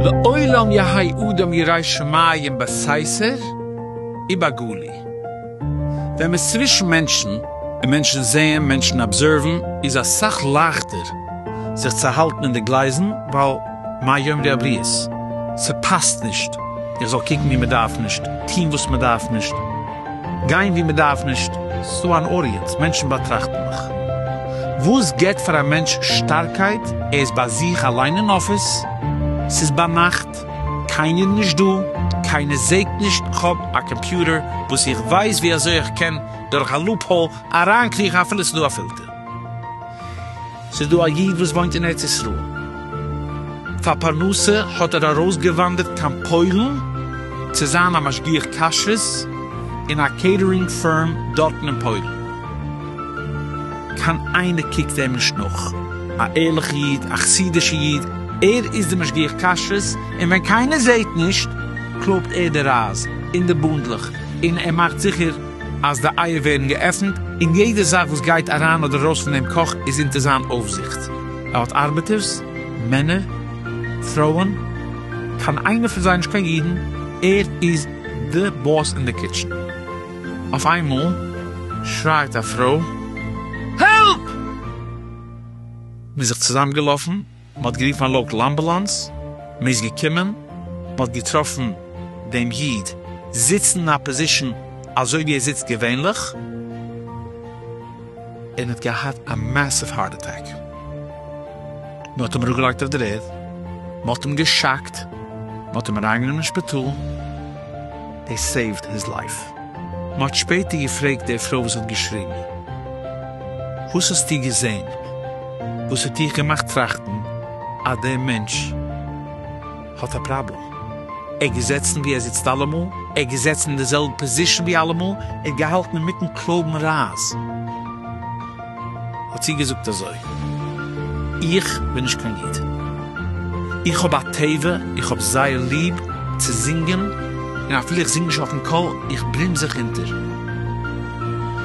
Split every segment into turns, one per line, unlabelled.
לעולם יהא אדם ירא שמים בסייסער ובגלוי. ווען מ'איז צווישן מענטשן, און מענטשן זעען, מענטשן אבזערוון, איז אסאך לייכטער זיך צו האלטן אין די גלייזן, ווייל. מה יאמרו די הבריות? ס'פאסט נישט איך זאל קוקן וואו מ'דארף נישט, טון וואס מ'דארף נישט, גיין וואו מ'דארף נישט, ס'דא אן אוריענט, מענטשן באטראכטן מיך. וואס געבט פאר א מענטש שטארקייט? ער איז ביי זיך אליין אין אפיס, ס'איז ביינאכט, קיינער נישט דא, קיינער זעהט נישט, כ'האב א קאמפיוטער וואס איך ווייס ווי אזוי איך קען דורך א לופהאל אריינקריכן אפילו ס'דא א פילטער. ס'איז דא א איד וואס וואוינט אין ארץ ישראל, פאר פרנסה האט ער ארויסגעוואנדערט קיין פוילן צו זיין א משגיח כשרות אין א קעיטערינג פירם דארטן אין פוילן, קיין איינער קוקט אים נישט נאך, א ערליכע איד, א חסידישע איד, ער איז די משגיח כשרות, און ווען קיינער זעהט נישט קלויבט ער די רייז און די בונדלעך און ער מאכט זיכער. אז די אייער ווערן געעפנט, און יעדע זאך וואס גייט אריין אדער ארויס פון דעם קאך איז אונטער זיין אויפזיכט. ער האט ארבעטערס, מענער, פרויען, קיין איינער פון זיי איז נישט קיין ידען, ער איז די באס אין די קיטשען. אויף איינמאל שרייט א פרוי, העלפ! מ'איז זיך צוזאמגעלאפן. מען האט גערופן א לאקעל אמבולאנס, מען איז געקומען, מען האט געטראפן דעם איד זיצן אין א פאזישאן אזוי ווי ער זיצט געווענליך, און האט געהאט א מעסיוו הארט אטעק, מען האט אים אראפגעלייגט אויף דער ערד, מען האט אים געשאקט, מען האט אים אריינגענומען אין שפיטאל, דעי סעיווט היז לייף. מ'האט שפעטער געפרעגט די פרוי וואס האט געשריגן, וואס האסטו געזען וואס האט דיך געמאכט טראכטן אז דער מענטש האט א פראבלעם? ער האט געזעצן ווי ער זיצט אלעמאל, ער האט געזעצן אין די זעלבע פאזישן ווי אלעמאל, ער האט געהאלטן אינמיטן קלויבן רייז. האט זי געזאגט אזוי, איך בין נישט קיין איד, איך האב א טבע, איך האב זייער ליב צו זינגען, און אפילו איך זינג נישט אויפן קול, איך בלום זיך אונטער.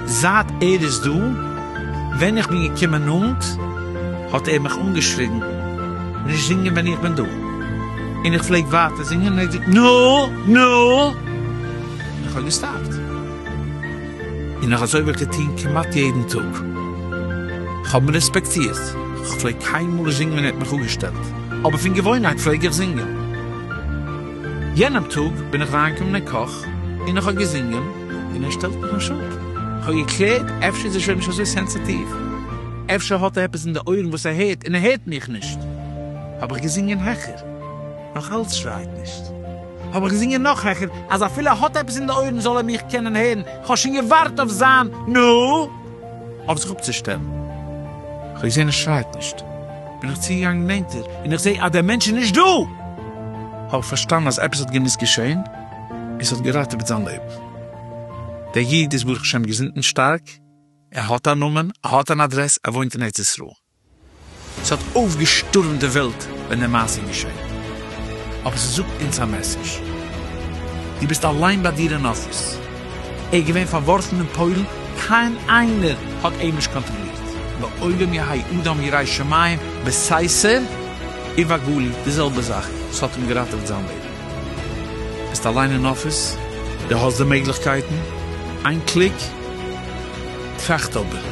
זייט ער איז דא, ווען איך בין געקומען נאנט, האט ער מיך אנגעשריגן, נישט זינגען ווען איך בין דא, און איך פלעג ווייטער זינגען, און ער האט געזאגט, נו! נו! און איך האב געסטאפט. און נאך אזוי וועל איך דיר טון כמעט יעדן טאג. כ'האב מיר רעספעקטירט, כ'פלעג קיינמאל נישט זינגען ווען ער האט מיך אפגעשטעלט, אבער פון געוואוינהייט פלעג איך זינגען. יענעם טאג בין איך אריינגעקומען אין קאך און איך האב געזינגען און ער שטעלט מיך נישט אפ. כ'האב געקלערט אפשר איז ער שוין נישט אזוי סענסעטיוו, אפשר האט ער עפעס אין די אויערן וואס ער הערט און ער הערט מיך נישט. האב איך געזינגען העכער, נאכאלץ שרייט נישט. האב איך געזינגען נאך העכער, אז אפילו ער האט עפעס אין די אויערן זאל ער מיך קענען הערן, איך האב שוין געווארט אויף זיין נו! אויף זיך אפצושטעלן. כ'האב געזען ער שרייט נישט, בין איך צוגעגאנגען נענטער, און איך זעה אז דער מענטש איז נישט דא! האב איך פארשטאנען אז עפעס האט געמוזט געשען, און ס'האט געראטעוועט זיין לעבן. דער איד איז ברוך השם געזונט און שטארק, ער האט א נאמען, ער האט אן אדרעס, ער וואוינט אין ארץ ישראל. ס'האט אויפגעשטורעמט די וועלט ווען די מעשה איז געשען, אבער ס'זאגט אונז א מעסעדזש, דו ביסט אליין ביי דיר אין אפיס, ער איז געווען פארווארפן אין פוילן, קיין איינער האט אים נישט קאנטראלירט, לעולם יהי' אדם ירא שמים, בסייסער ובגלי' די זעלבע זאך, ס'האט אים געראטעוועט זיין לעבן, ביסט אליין אין אפיס, דו האסט די מעגליכקייטן, איין קליק, טראכט אבער.